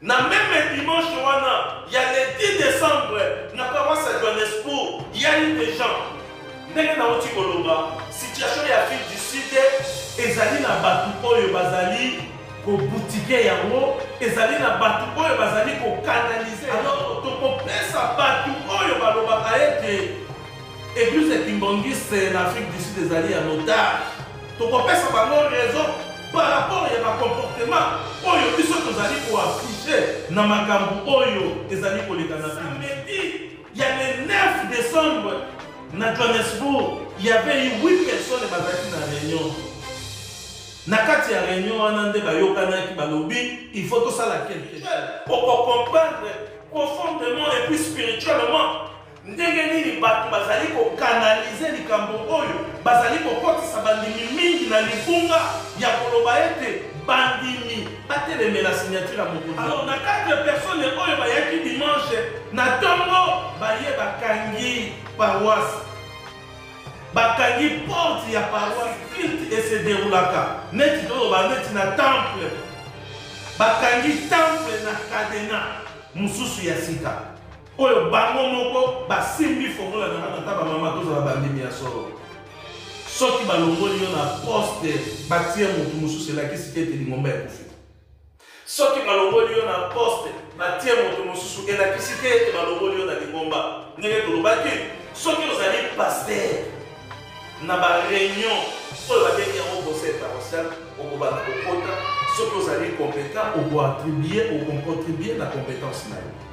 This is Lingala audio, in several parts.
Na meme dimanche wana ya le 10 decembre na paroisse ya Johannesburg, il y a eu des gens ndenge nauti koloba situation ya ville du sud ezali na bato oyo bazali kobutike yango ezali na bato oyo bazali kokanalize alors tokopesa bato oyo balobaka ete eglise kimbongiste na afrique du sud ezali ya notage Tokopesa bango raison par rapport ya ba comportements oyo biso tozali ko afficher na makambo oyo ezali koleka na samedi ya le 9 decembre na Johannesburg. Il y avait eu 8 personnes bazalaki na réunion. Na kati ya réunion wana nde bayokanaki balobi il faut tosala quelque chose. Oko comprendre profondément et puis spirituellement Ndenge nini bato bazali kokanalize likambo oyo? Bazali kokotisa bandimi mingi na libunga ya koloba ete bandimi batelemela signature ya mokonzi. Alors na 4 personnes oyo bayaki dimanche na tongo baye bakangi paroisse bakangi porte ya paroisse culte et se deroulaka neti toloba neti na temple bakangi temple na cadena mosusu ya sika Oyo bango moko basimbi fongola na nga tata ba mama tozala bandimi ya solo soki balongoli yo na poste batie motu mosusu elakisi te ete lingomba ekufi soki balongoli yo na poste batie motu mosusu elakisi te ete balongoli yo na lingomba ndenge tolobaki soki ozali paster na bareunion oyo babengi yango conseil parotial okobanda kokota soki ozali competent okoatribue okocontribue na competence na yo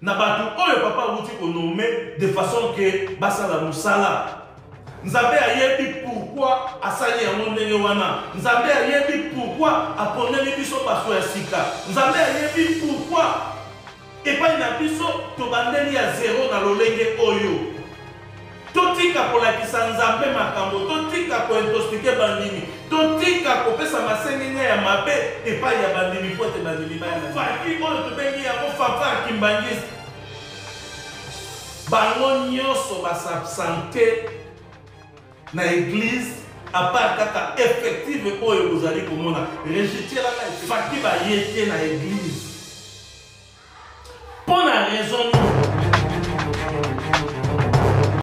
na bato oyo papa awuti konome de façon ke basala mosala nzambe ayebi pourkui asali yango ndenge wana nzambe ayebi pourkui aponeli biso bato ya sika nzambe ayebi pourkui epai na biso tobandeli ya zero na lolenge oyo Totika kolakisa Nzambe makambo, totika ko intoxiquer bandimi, totika kopesa masenginya ya mabe epai ya bandimi mpo ete bandimi baya na faki oyo tobengi yango fanfare kimbanguiste. Bango nyonso ba s'absenter na eglise à part kaka effective oyo bozali komona regitielaka faki baye te na eglise mpo na raison nini